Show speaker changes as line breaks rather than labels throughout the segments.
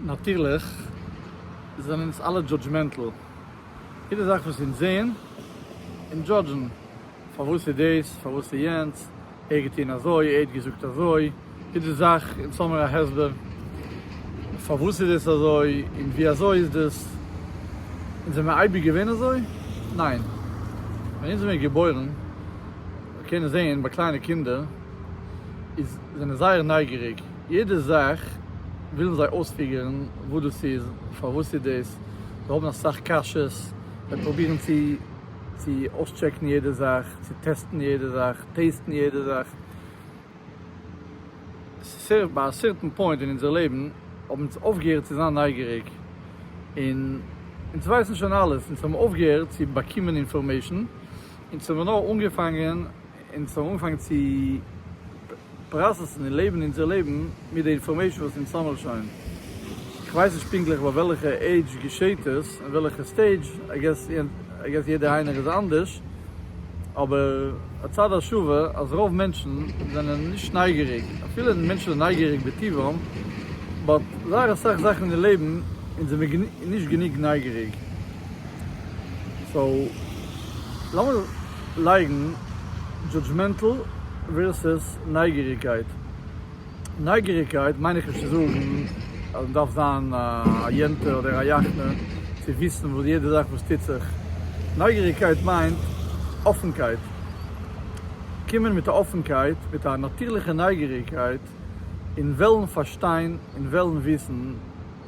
נאטירליך זענען אונז אלע דזשאדזשמענטל, יעדע זאך וואס אונז זעהן און דזשאדזשן, פארוואס איז דאס, פארוואס איז יענץ, ער האט געטוהן אזוי, ער האט געזאגט אזוי, יעדע זאך אונז האמיר א הסבר פארוואס איז דאס אזוי און ווי אזוי איז דאס, אונז זעמיר אייביג געווען אזוי? ניין, ווען אונז זעמיר געבוירן, מיר קענען זעהן ביי קליינע קינדער איז. זענען זייער נייגעריג, יעדע זאך ווילן זיי אויספיגערן וואס דאס איז, פארוואס איז דאס, זיי האבן אסאך קשיות, זיי פרובירן צו צו אויסטשעקן יעדע זאך, צו טעסטן יעדע זאך, טעיסטן יעדע זאך, ס'איז ביי א סערטען פוינט אין אונזער לעבן האבן אונז אויפגעהערט צו זיין נייגעריג, און אונז ווייסן שוין אלעס, אונז האבן אויפגעהערט צו באקומען אינפארמעישן, אונז האבן נאר אנגעפאנגען אונז האבן אנגעפאנגען צו פראסעסן און לעבן אונזער לעבן מיט די אינפארמעישן וואס אונז האמער שוין. כ'ווייס נישט פונקטליך ביי וועלכע עידזש געשעהט עס, און וועלכע סטעידזש, איי געס איי געס יעדער איינער איז אנדערש, אבער הצד השוה אז רוב מענטשן זענען נישט נייגעריג, אפילו מענטשן זענען נייגעריג בטבעם, באט זייער אסאך זאכן אין לעבן אונז זעמיר נישט גענוג נייגעריג. סאו לאמיר. לייגן דזשאדזשמענטל ווערסעס נייגעריגקייט. נייגעריגקייט מיין איך נישט צו זאגן אז מען דארף זיין א יענטע אדער א יעכטע צו וויסן וואס יעדע זאך וואס טוט זיך. נייגעריגקייט מיינט אפנקייט. קומען מיט א אפנקייט, מיט א נאטורליכע נייגעריגקייט און וועלן פארשטיין און וועלן וויסן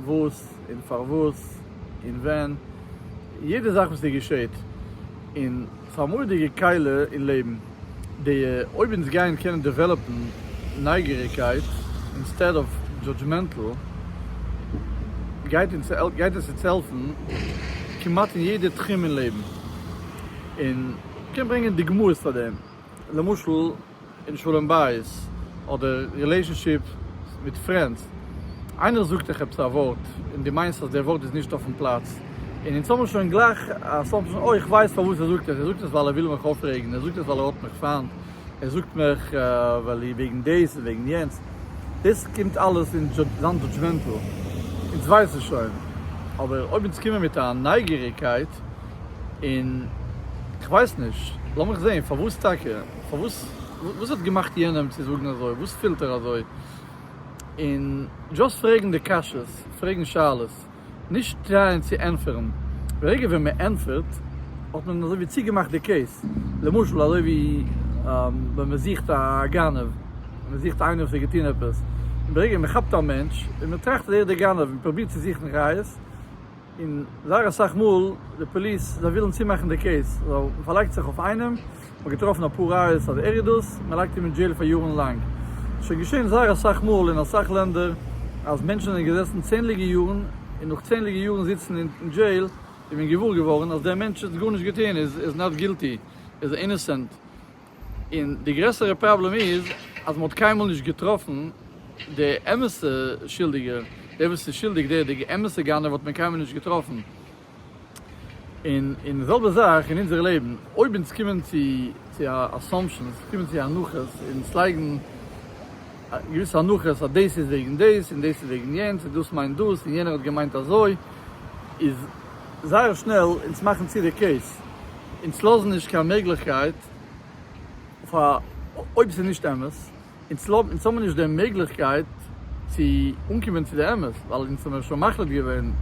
וואס און פארוואס און ווען יעדע זאך וואס ס'געשעט. און פאר מודיגע קהלה אין לעבן די אויב אונז גייען קענען דעוועלאפן נייגעריגקייט אינסטעד אוו דזשאדזשמענטל גייט אונז גייט עס אונז העלפן כמעט אין יעדע תחום אין לעבן און כ'קען ברענגען דוגמאות פאר דעם למשל. אין שלום בית אדער רילעישאנשיפ מיט פרענדס, איינער זאגט דיך עפעס א ווארט און דו מיינסט אז דער ווארט איז נישט אויפן פלאץ, און אונז האבן שוין גלייך אסאמפשן, אוי כ'ווייס פארוואס ער זאגט עס, ער זאגט עס ווייל ער וויל מיך אויפרעגן, ער זאגט עס ווייל ער האט מיך פיינט, ער זאגט מיך ווייל אי וועגן דאס און וועגן יענץ, דאס קומט אלעס אין זיין דזשאדזשמענטל, אונז ווייסן שוין, אבער אויב אונז קומען מיט א נייגעריגקייט און כ'ווייס נישט, לאמיך זען פארוואס טאקע. פארוואס? וואס האט געמאכט יענעם צו זאגן אזוי? וואס פילט ער אזוי? און דזשאסט פרעגן די קשיות, פרעגן שאלות, נישט טרייען צו ענטפערן, די רגע ווען מען ענטפערט האט מען אזוי ווי צוגעמאכט די קעיס, למשל אזוי ווי ווען מען זוכט א גנב, מען זוכט איינעם וואס האט געטון עפעס, און די רגע מען כאפט א מענטש און מען טראכט אז ער איז דער גנב און מען פרובירט צו זוכן ראיות, און זייער אסאך מאל די פאליס זיי ווילן צומאכן די קעיס ווייל מען פארלייגט זיך אויף איינעם, מען האט געטראפן אפאר ראיות אז ער איז דאס, מען לייגט אים אין דזשעיל פאר יארן לאנג. שוין געשען זייער אסאך מאל אין אסאך לענדער אז מענטשן זענען געזעסן צענדליגע יארן און נאך צענדליגע יארן זיצן אין דזשעיל איז מען געוואר געווארן אז דער מענטש האט גארנישט געטון, ער איז נאט גילטי, ער איז אינעסענט. און די גרעסערע פראבלעם איז אז מען האט קיינמאל נישט געטראפן די אמת'ע שולדיגער, דער וואס איז שולדיג, דער דער אמת'ע גנב האט מען קיינמאל נישט געטראפן. און און די זעלבע זאך אין אונזער לעבן, אויב אונז קומען צו צו א אסאמפשענס, קומען צו הנחות, אונז לייגן געוויסע הנחות אז דאס איז וועגן דאס, און דאס איז וועגן יענץ, און דאס מיינט דאס, און יענער האט געמיינט אזוי, איז זייער שנעל אונז מאכן צו די קעיס, אונז לאזן נישט קיין מעגליכקייט פאר אויב ס'איז נישט אמת, אונז האבן נישט די מעגליכקייט צו אנקומען צו די אמת, ווייל אונז האבן שוין מחליט געווען,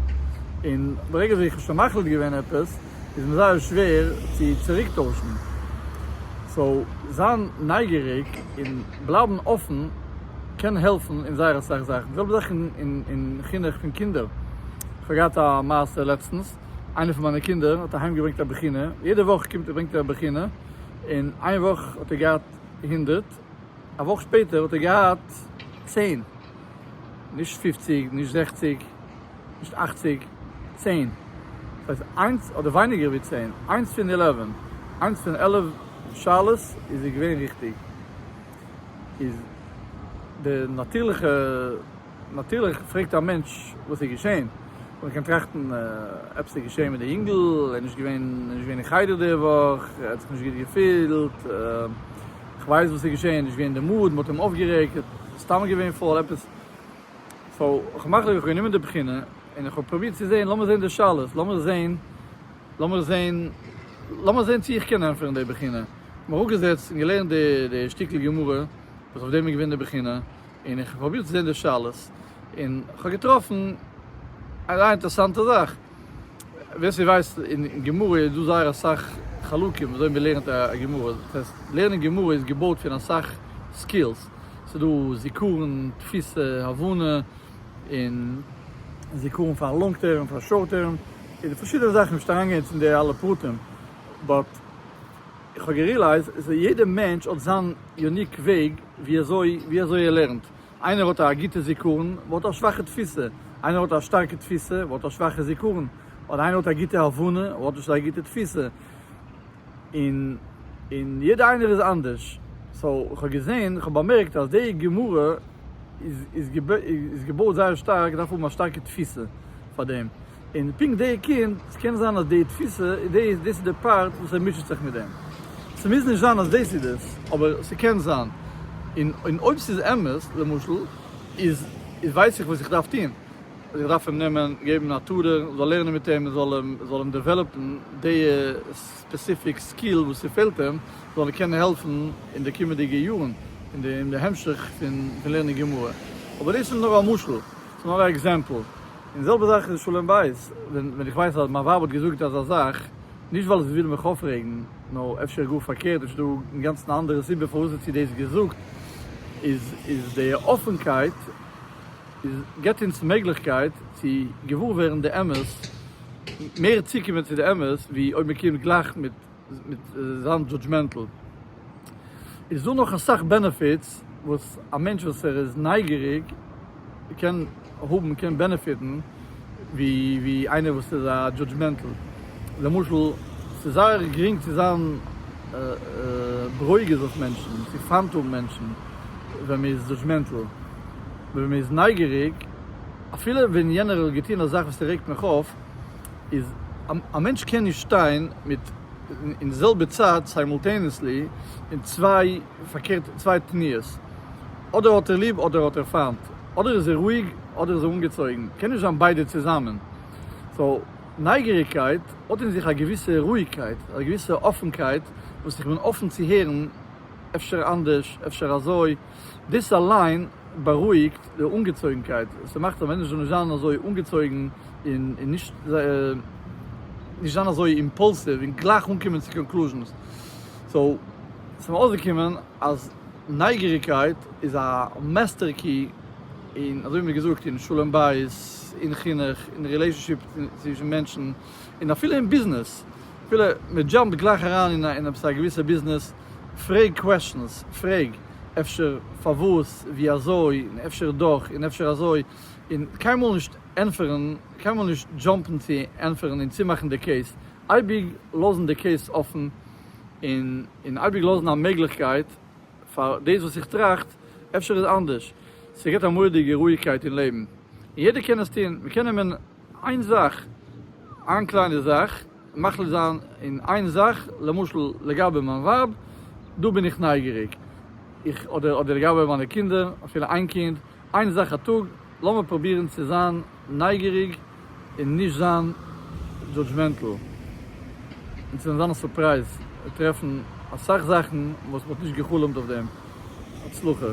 און ברגע ווי איך האב שוין מחליט געווען עפעס איז מיר זייער שווער צו צוריק טוישן, סאו זיין נייגעריג און בלייבן אפן קען העלפן אין זייער אסאך זאכן, די זעלבע זאך אין חינוך פון קינדער. כ'האב געהאט א מעשה לעצטנס, איינער פון מיינע קינדער האט אהיים געברענגט א בחינה, יעדע וואך קומט ער ברענגט ער א בחינה, און איין וואך האט ער געהאט הונדערט, א וואך שפעטער האט ער געהאט צען, נישט פופציג, נישט זעכציג, נישט אכציג, צען, ס'הייסט איינס אדער ווייניגער ווי צען, איינס פון עלעווען, איינס פון עלף שאלות איז ער געווען ריכטיג, איז די נאטירליכע. נאטירליך פרעגט א מענטש וואס איז געשען, און איך קען טראכטן עפעס איז געשען מיט די יונגל, ער איז נישט געווען ער איז נישט געווען אין חדר די וואך, ער האט זיך נישט גוט געפילט, איך ווייס וואס איז געשען, נישט געווען אין די מאד, מ'האט אים אויפגערעגט, סתם געווען פויל, עפעס. סאו איך האב מחליט, איך האב גענומען די בחינה, און איך האב פרובירט צו זען, לאמיר זען די שאלות, לאמיר זען, לאמיר זען, לאמיר זען צי איך קען ענטפערן די בחינה, איך האב מיך אראפגעזעצט און געלערנט די שטיקל גמרא וואס אויף דעם איז געווען די בחינה. און איך האב פרובירט צו זעהן די שאלות, און כ'האב געטראפן א זייער אינטערעסאנטע זאך. ווער ס'ווייסט, אין גמרא איז דא זייער אסאך חלקים וויאזוי מ'לערנט א גמרא. דאס הייסט, לערנען גמרא איז געבויט פון אסאך סקילס. ס'איז דא זיכרון, תפיסה, הבנה, און זיכרון פאר לאנג טערם, פאר שארט טערם, און פארשידענע זאכן. נישט אריינגיין יעצט אין די אלע פרטים, באט. איך האב גערילייזט אז יעדע מענטש האט זיין יוניק וועג ווי אזוי ווי אזוי ער לערנט, איינער האט א גוטע זיכרון אבער האט א שוואכע תפיסה, איינער האט א שטארקע תפיסה אבער האט א שוואכע זיכרון, אדער איינער האט א גוטע הבנה אבער האט נישט אזא גוטע תפיסה, און און יעדע איינער איז אנדערש, סאו איך האב געזען איך האב באמערקט אז די גמרא איז איז געבויט זייער שטארק, דארף האבן א שטארקע תפיסה פאר דעם. און פונקט די קינד, ס'קען זיין אז די תפיסה איז די, דאס איז די פארט וואס ער מוטשעט זיך מיט דעם. ס'מוז נישט זיין אז דאס איז דאס, אבער ס'קען זיין. און אויב ס'איז אמת, למשל, איז איז ווייס איך וואס איך דארף טון. איך דארף אים נעמען, געבן א טארע, זאל לערנען מיט אים, זאל אים זאל אים דעוועלאפן די ספעסיפיק סקיל וואס ס'פעלט אים, זאל אים קענען העלפן אין די קומענדיגע יארן, אין די המשך פון לערנען גמרא. אבער דאס איז נאר א משל, ס'איז נאר א עקזעמפל. און זעלבע זאך אין שלום בית, ווען איך ווייס אז מיין ווייב האט געזאגט אזא זאך, נישט ווייל זי וויל מיך אפרעגן, נאר אפשר גאר פארקערט, אפשר איז דא אינגאנצן א אנדערע סיבה פארוואס האט זי דאס געזאגט, איז איז די אפענקייט איז געבט אונז מעגליכקייט צו געוואר ווערן די אמת, מער צוקומען צו די אמת, ווי אויב מען קומט גלייך מיט. מיט זיין דזשאדזשמענטל. איז דא נאך אסאך בענעפיטס וואס א מענטש וואס ער איז נייגעריג קען האבן קען בענעפיטן ווי ווי איינער וואס איז א דזשאדזשמענטל. למשל ס'איז זייער גרינג צו זיין ברוגז אויף מענטשן, צו פיינט האבן מענטשן ווען מ'איז דזשאדזשמענטל. ווען מ'איז נייגעריג אפילו ווען יענער האט געטון א זאך וואס ס'רעגט מיך אויף, איז א מענטש קען נישט שטיין מיט אין די זעלבע צייט סיימולטעניעסלי אין צוויי פארקערט צוויי תנועות אדער האט ער ליב אדער האט ער פיינט אדער איז ער רואיג אדער איז ער אנגעצויגן קען נישט זיין ביידע צוזאמען סאו נייגעריגקייט האט אין זיך א געוויסע רואיגקייט א געוויסע אפענקייט וואס איך בין אפען צו הערן אפשר אנדערש אפשר אזוי. דאס אליין בארואיגט די אנגעצויגנקייט, ס'מאכט אז מענטשן זאלן נישט זיין אזוי אנגעצויגן און נישט זיין אזוי אימפאלסיוו און גלייך אנקומען צו קאנקלוזשענס. סאו, ס'איז מיר אויסגעקומען אז נייגעריגקייט איז א מעסטער קי אין, אזוי ווי מ'האט געזאגט, אין שלום בית, אין חינוך, אין רילעישאנשיפ צווישן מענטשן, און אפילו אין ביזנעס. אפילו מ'דזשאמפט גלייך אריין אין עפעס א געוויסע ביזנעס. פרעג קוועשאנס, פרעג, אפשר, פארוואס, ווי אזוי, און אפשר דאך, און אפשר אזוי, און קיינמאל נישט ענפערן, קיינמאל נישט דזשאמפן צו ענפערן און צומאכן די קעיס, אייביג לאזן די קעיס אפן, און און אייביג לאזן א מעגליכקייט פאר דאס וואס איך טראכט, אפשר איז אנדערש, ס'געבט א מורא'דיגע רואיגקייט אין לעבן, און יעדער קען עס טון, מ'קען נעמען איין זאך, איין קליינע זאך, מחליט זיין אין איין זאך, למשל לגבי מיין ווייב, דא בין איך נייגעריג, איך, אדער אדער לגבי מיינע קינדער, אפילו איין קינד, איין זאך א טאג, לאמיר פרובירן צו זיין נייגעריג און נישט זיין דזשאדזשמענטל, און צו זיין א סורפרייז, טרעפן אסאך זאכן וואס מ'האט נישט גע'חלומ'ט אויף דעם, הצלחה.